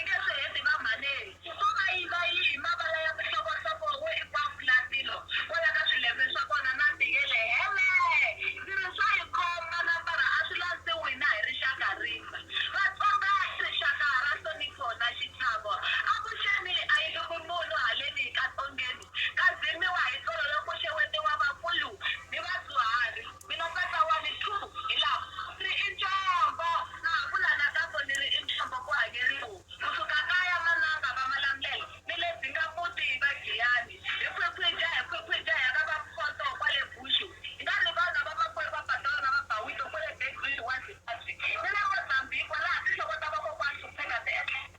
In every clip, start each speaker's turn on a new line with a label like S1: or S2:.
S1: Eka swihedzi va mhaneni vo va yiva yi hi mavala ya mihlovohlovo wo i kwaku la tilo kwala ka swilembe swa kona na ti yele hele ndzi ri swa hi khoma na mbara a swi landzi wina hi rixaka rimba vatsonga i rixaka ra nhlonipho na xichavo avuxeni a yi lumi munhu haleni ka tsongeni ka dzimiwa hi tsolo loku xewetiwa vakulu ni vadyuhari. Mina tata wa ni two hi lava. Ni ri i ntswamba. Na ha vula nakambo ni ri i ntswamba ku hanye rivomu. Ku suka kaya mananga va malamulelo ni le Bingamuti va Giyani. Hi khwikhwija hi khwikhwija hi ya ka va Mpoto kwale Bushu. Hi nga rivali na vamakwerhu va Patrol na va Bawito kwale Bay Bridge wa Zimbabwe ni le Mozambique kwalaha tinhloko ta vakokwana Schupacker ti etlelaka.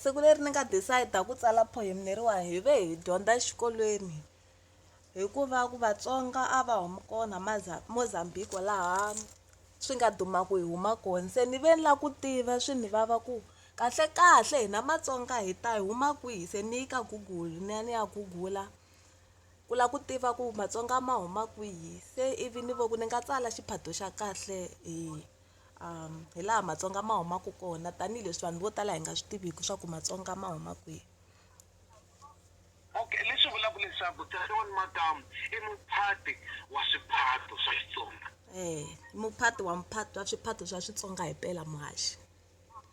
S1: siku leri ni nga decide-a ku tsala poem leriwani hi ve hi dyondza exikolweni hikuva ku vatsonga a va huma kona Mozambique laha swi nga duma ku hi huma kona se ni ve ni lava ku tiva swi ni vava ku kahlekahle hina matsonga hi ta hi huma kwihi se ni yi ka google ni ya ni ya gugula ku lava ku tiva ku matsonga ma huma kwihi se ivi ni vona ku ni nga tsala xiphato xa kahle hi. hi laha matsonga ma humaka kona tanihileswi vanhu vo tala hi nga swi tiviki swa ku matsonga ma huma kwihi okay leswi vulaka leswaku tatewani makamu i muphati wa swiphato swa xitsonga eh muphati wa muphati wa swiphato swa switsonga hi mpela muhaxi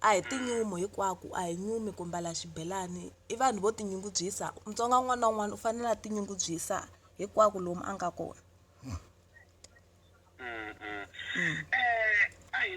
S1: A hi tinyumu hinkwaku a hi nyumi ku mbala xibelani i vanhu vo tinyungubyisa Mutsonga un'wana na un'wana u fanele a tinyungubyisa hinkwaku lomu a nga kona.